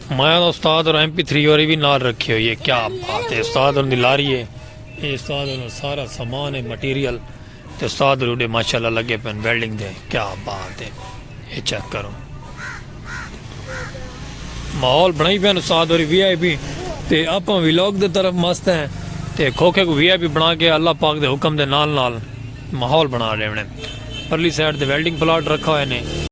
مایا دا استاد اور ایم پی تھری اور بھی نال رکھی ہوئی ہے کیا بات ہے استاد اور لاری ہے اے استاد اور سارا سامان ہے مٹیریل تے استاد روڈے ماشاءاللہ لگے پن ویلڈنگ دے کیا بات ہے اے چیک کرو ماحول بنائی پن استاد اور وی آئی پی تے اپاں ویلاگ دے طرف مست ہیں تے کھوکھے کو وی آئی پی بنا کے اللہ پاک دے حکم دے نال نال ماحول بنا رہے ہیں پرلی سائیڈ دے ویلڈنگ پلاٹ رکھا ہوئے نے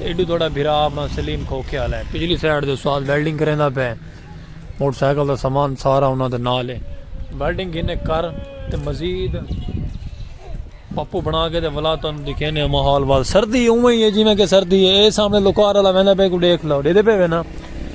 ایڈو تہاڈا بھرا اپنا سلیم کھوکھے آلا ہے پچھلی سائیڈ دے استاد ویلڈنگ کریندا پئے موٹر سائیکل دا سامان سارا انہاں دے نال ہے ویلڈنگ گھنے کر تے مزید پپو بنا کے تے ولا تانوں دکھینے ہم حال وال سردی اوویں ہی ہے جویں کہ سردی ہے اے سامنے لوکار والا ویندا پئے کو دیکھ لو ڈیدے پئے وینا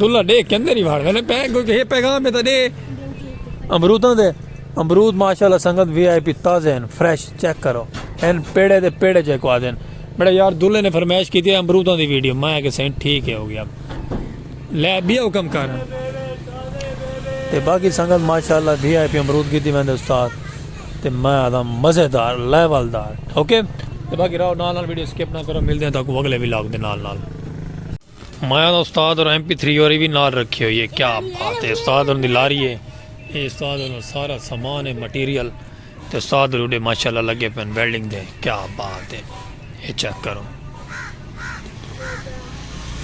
دلہ ڈے کے اندر ہی بھاڑ ویلے پہ کوئی کہ پیغام ہے تا ڈے امروداں دے امرود ماشاءاللہ سنگت وی آئی پی تازے ہیں فریش چیک کرو این پیڑے دے پیڑے چیک کو آدھے ہیں بڑا یار دلہ نے فرمائش کی تھی امروداں دی ویڈیو میں کہ سین ٹھیک ہے ہو گیا لے بھی حکم کر تے باقی سنگت ماشاءاللہ وی آئی پی امرود کی تھی میں دے استاد تے میں آدھا مزیدار لیول دار اوکے تے باقی راو نال نال ویڈیو سکپ نہ کرو مل دیں تاکو اگلے ویلاگ دے نال نال مایا دا استاد اور ایم پی تھری اور بھی نال رکھی ہوئی ہے کیا بات ہے استاد اور دی لاری ہے اے استاد اور سارا سامان ہے مٹیریل تے استاد روڈے ماشاءاللہ لگے پن ویلڈنگ دے کیا بات ہے اے چیک کرو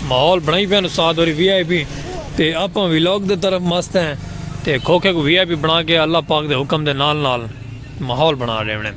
ماحول بنائی پن استاد اور وی آئی پی تے اپ ویلاگ دے طرف مست ہیں تے کھوکھے کو وی آئی پی بنا کے اللہ پاک دے حکم دے نال نال ماحول بنا رہے ہیں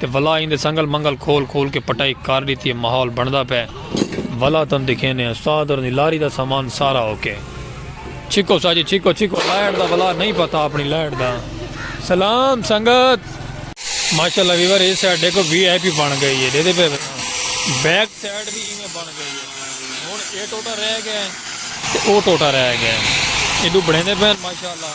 تے ولا ایندے سنگل منگل کھول کھول کے پٹائی کر ڈتی ہے ماحول بندا پئے ولا تن دکھینے ہیں استاد اور دی لاری دا سامان سارا اوکے چھکو سا جی چھکو چھکو لائٹ دا ولا نہیں پتا اپنی لائٹ دا سلام سنگت ماشاءاللہ ویور اس سائیڈ دیکھو وی آئی پی بن گئی ہے دے دے پہ بیک سائیڈ بھی ایویں بن گئی ہے ہن اے ٹوٹا رہ گیا ہے تے او ٹوٹا رہ گیا ہے ایڈو بڑھیندے پہ ماشاءاللہ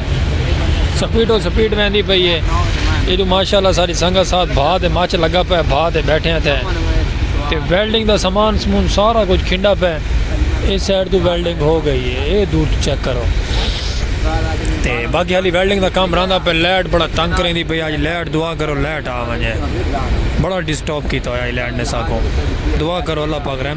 سپیڈ و سپیڈ ویندی پئی ہے ایڈو ماشاءاللہ ساری سنگت ساتھ بھا تے مچ لگا پے بھا تے بیٹھے ہیں تے تے ویلڈنگ دا سامان سمون سارا کچھ کھنڈا پے اے سائیڈ تو ویلڈنگ ہو گئی ہے اے دور تو چیک کرو تے باقی حالی ویلڈنگ دا کام رہندا پے لیٹ بڑا تنگ کریں دی پئی آج لیٹ دعا کرو لیٹ آ ونجے بڑا ڈسٹرب کیتا ہویا لیٹ نے ساکو دعا کرو اللہ پاک رحم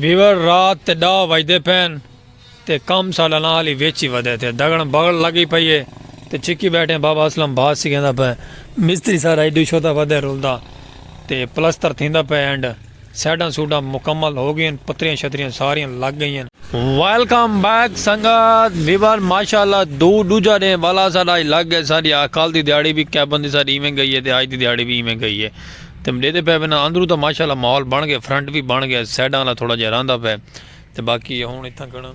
بیور رات تے ڈا وجدے پین تے کم سالا نال ہی ویچی ودے تھے دگن بغل لگی پئی ہے تے چکی بیٹھے بابا اسلم بھاس سکھیندا پے مستری سارا ایڈو شوتا ودے رولدا تے پلستر تھیندا پے اینڈ سیڈاں سوڈاں مکمل ہو گئین پتریاں شتریاں ساریاں لگ گئین۔ ویلکم بیک سنگت ویور ماشاءاللہ دو ڈوجھا ڈینہہ والا ساڈا اج لگ گئے ساڈی آ کل دی دیہاڑی وی کیبن دی ساڈی ایویں گئی ہے تے اج دی دیہاڑی وی ایویں گئی ہے تے ڈیدے پے وینا اندروں تاں ماشاءاللہ ماحول بن گئے فرنٹ وی بن گئے سیڈاں آلا تھوڑا جیا رہندا پے تے باقی ہن اتھاں کن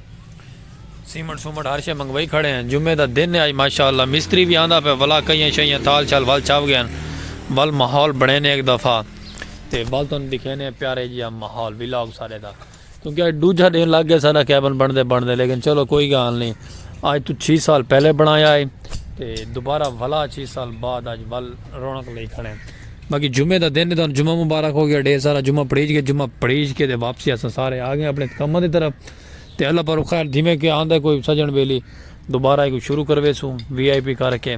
سیمنٹ سومنٹ ہر شے منگوائی کھڑے ہیں جمعے دا دن ہے اج ماشاءاللہ مستری وی آندا پیا ولا کئیاں شئیاں تھال شال ول چھاو گئے ہن ول ماحول بنڑینے ہک دفعہ تے ول تانوں دکھینے پیارے جیہا ماحول ولاگ سارے دا کیونکہ اج ڈوجھا دن لگ گیا سارا کیبن بنڑدے بنڑدے لیکن چلو کوئی گال نہیں اج تو چھی سال پہلے بنڑایا ہے تے دوبارہ ولا چھی سال بعد اج ول رونق لئی کھڑے ہیں باقی جمعے دا دن ہے تہاݙوں جمعہ مبارک ہو ڳیا ݙھیر سارا جمعہ پڑھیج ڳئے جمعہ پڑھیج کے تے واپسی اساں سارے آ ڳئے اپݨے کماں دی طرف تے اللہ پاک خیر تھیویں کے آندا ہے کوئی سڄݨ ٻیلی دوبارہ ایکوں شروع کرویسوں وی آئی پی کر کے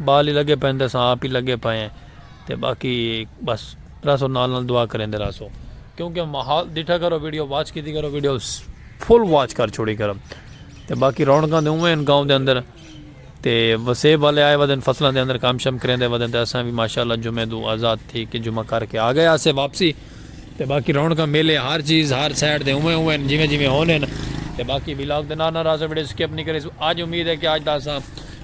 ٻال ہی لڳے پئن تے اساں آپ ہی لڳے پئے ہیں تے باقی بس رہسو نال نال دعا کریندے رہسو کیونکہ ماحول ݙٹھا کرو ویڈیو واچ کیتی کرو ویڈیو فل واچ کر چھوڑی کرو تے باقی رونقاں تے اونویں ہن گاؤں دے اندر تے وسیب والے آئے ودن فصلاں دے اندر کم شم کریندے ودن تے اساں وی ماشاء اللہ جمعے دو آزاد تھی کے جمعہ کر کے آ گئے آسے واپسی تے باقی رونقاں میلے ہر چیز ہر سائیڈ دے اونویں اونویں ہن جیویں جیویں ہن ہن تے باقی ولاگ دے نال نال راہسو ویڈیو سکپ نی کریسو اج امید ہے کے اج دا اساں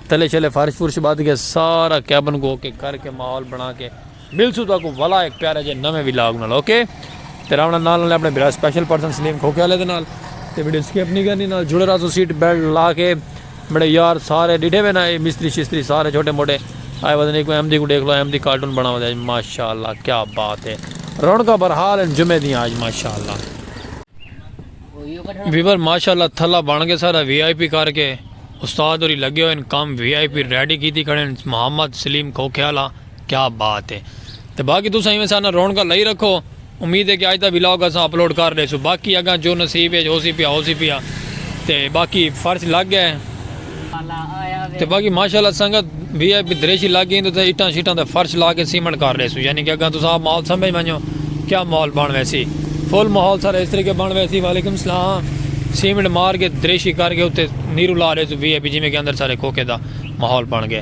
تلے شلے فرش فرش بدھ کے سارا کیبن کو اوکے کر کے ماحول بنا کے ملسوں تہاکوں ولا ہک پیارے جے نویں ولاگ نال اوکے تے راونا نال نالے اپنے بھرا سپیشل پرسن سلیم کھوکھے والے دے نال تے ویڈیو سکپ نہیں کرنی نال جڑے راسو سیٹ بیلٹ لا کے میرے یار سارے ڈیٹھے وے نا اے مستری شستری سارے چھوٹے موٹے آئے وزن ایک احمدی کو دیکھ لو احمدی کارٹون بنا ودے آج ماشاءاللہ کیا بات ہے رونکا برحال ان جمعے دیاں آج ماشاءاللہ ویور ماشاءاللہ تھلا بن گئے سارا وی آئی پی کر کے استاد ہوری لگے ہوئے کام وی آئی پی ریڈی کیتی کھڑے محمد سلیم کھوکھے والا کیا بات ہے تے باقی تساں ایویں ساڈے نال رونقاں لائی رکھو امید ہے کہ اج دا ولاگ اساں اپلوڈ کر ڈیسوں باقی اگاں جو نصیب اچ ہوسی پیا ہوسی پیا تے باقی فرش لگ گئے تے باقی ماشاءاللہ سنگت وی آئی پی دریشی لگ گئی تے اٹاں شٹاں تے فرش لا کے سیمنٹ کر ڈیسوں یعنی کہ اگاں تساں ماحول سمجھ ونجو کیا ماحول بن ویسی فل ماحول سارا اس طریقے بن ویسی وعلیکم السلام سیمنٹ مار کے دریشی کر کے تے نیرو لا ڈیسوں وی آئی پی جویں کہ اندر سارے کوکے دا ماحول بن گئے